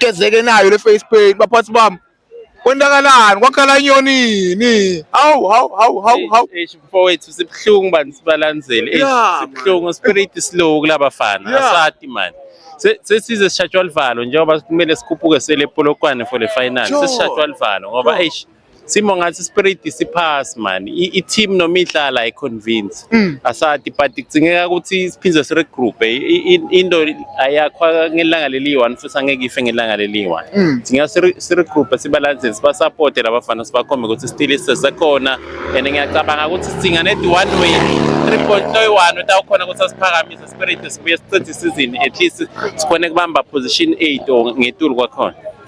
gezeke nayo le face paint baphathi bami kwendakalani kwakhala inyonini hawu hawu hawu hawu hawu eish mfowethu sibuhlungu bantu sibalandzele eish Yeah, sibuhlungu spirit slow kulabafana Yeah. asati manje Se- sesize sishatshwa livalo njengoba kumele sikhuphuke sele polokwane for the final Sure. sesishatshwa livalo ngoba eish Simo ngathi spirit siphasi man. I-team noma idlala i convince. Mm. Asati but kudzingeka ukuthi siphinde si regroup. Into ayakhwa ngelanga leli one futhi angeke ife ngelanga leli one. Mm. Singa si regroup sibalance siba support labafana sibakhombe ukuthi still isesekhona and ngiyacabanga ukuthi sidinga net one way 3.1 utawukhona ukuthi asiphakamise spirit sibuye sichithe isizini at least sikhone kubamba position 8 or ngetulu kwakhona.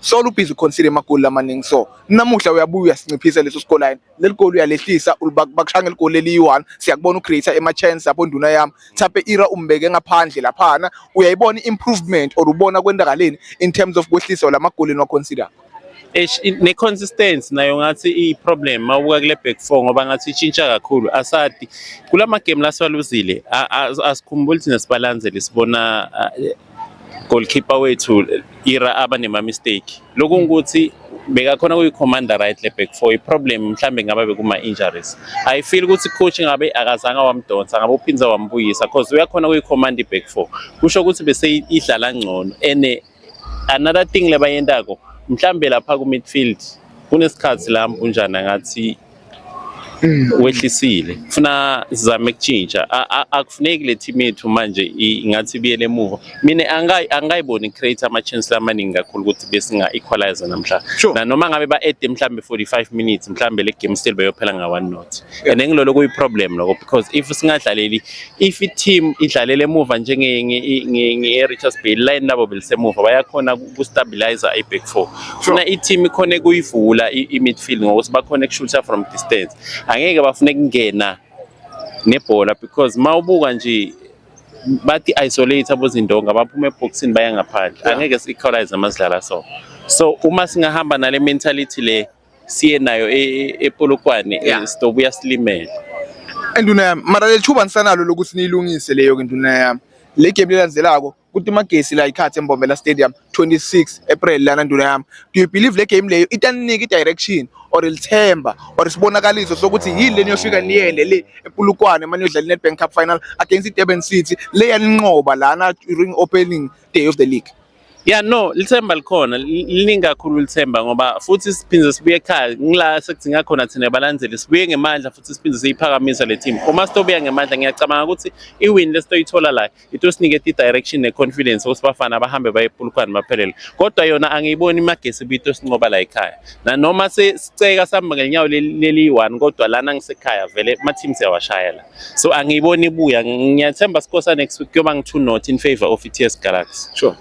Solo ubhizi ukhonsile amagoli lamaningi so namuhla uyabuya uyasinciphisa leso scoreline leli goli uyalehlisa bakushanga eligoli eliyi-one siyakubona ucreate ama-chance lapho nduna yami Thape Ira umbeke ngaphandle laphana uyayibona i-improvement or ubona kwendakaleni in terms of kwehlisa la magoli eniwaconsider ne-consistency nayo ngathi i-problem mawubuka kule back four ngoba ngathi itshintsha kakhulu asadi kula magemu lasiwaluzile asikhumbuli thina sibalanzele sibona goalkeeper wethu ira aba nema mistake lokho ukuthi bekakhona kuyi commander right le back four iproblem mhlambe ngaba bekuma injuries i feel ukuthi coach ngabe akazanga wamdonsa ngabe uphinza wambuyisa because uyakhona kuyi command back four kusho ukuthi bese idlala ngcono ene another thing lebayentako mhlambe lapha ku midfield kunesikhathi la mpunjana ngathi Mm. wehlisile funa sizame kutshintsha akufuneki le team yethu manje ingathi ibuyele emuva mina angayiboni create ama chance lamaningi kakhulu ukuthi besinga equalize namhla na noma ngabe ba add mhlambe 45 minutes mhlambe le game still beyophela nga one not and engilolo kuyi problem lokho because if singadlaleli if i-team idlalele emuva njenge-richards bay line labo belisemuva bayakhona ukustabilizer i-back four funa i-team ikhona ekuyivula i-midfield ngokuthi bakhona ekushutha from distance angeke bafune kungena nebhola because ma ubuka nje bathi isolate abozindonga baphuma eboxini baya ngaphandle angeke si-equalize ama sidlala so so uma singahamba nale mentality le siye nayo e- epolokwane Yeah. eh, sitobuya silimele Induna yami, mara leli thuba nisanalo lokuthi niyilungise leyo ke nduna yami. Le game lelandzelako kuthi magesi la ikhathi eMbombela Stadium 26 April lana nduna yami. Do you believe le game leyo itaninika i-direction or ilithemba or isibonakaliso sokuthi yini le niyofika niyende le ePulukwane manje yodlala iNedbank Cup final against iDurban City le yaninqoba lana during opening day of the league. Yeah no, lithemba likhona, liningi kakhulu lithemba ngoba futhi siphinde sibuye ekhaya. Ngila sekudinga khona thina balandeli, sibuye ngemandla futhi siphinde siyiphakamisa le team. Uma sitobuya ngemandla ngiyacabanga ukuthi i-win lesitoyithola la itosiniketa i-direction ne-confidence ukuthi bafana bahambe baye ePulukwane baphelele. Kodwa yona angiyiboni imagesi bito sinqoba la ekhaya. Na noma siceka sihamba ngenyawo leli 1 kodwa lana ngisekhaya vele ama teams yawashayela. So angiyiboni ibuya. Ngiyathemba sikhosa next week kuyoba ngi 2 not in favor of iTS Galaxy. Sure.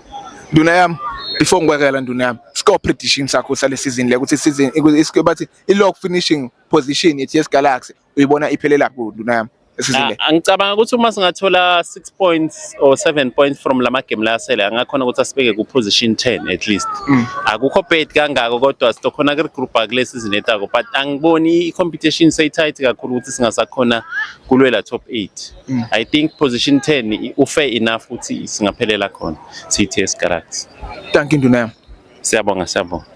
Nduna yami before ngikwekela nduna yami score prediction sakho sale season le ukuthi season isike bathi i log finishing position ye TS Galaxy uyibona iphelela ku nduna yami esizile. Ah, angicabanga ukuthi uma singathola 6 points or 7 points from lama game la asele angakhona ukuthi asibeke ku position 10 at least mm. akukho bad kangako kodwa sitokhona ku group akule season etako but angiboni i competition say tight kakhulu ukuthi singasakhona kulwela top 8 mm. i think position 10 u fair enough ukuthi singaphelela khona sithe esigaraks thank you nduna siyabonga siyabonga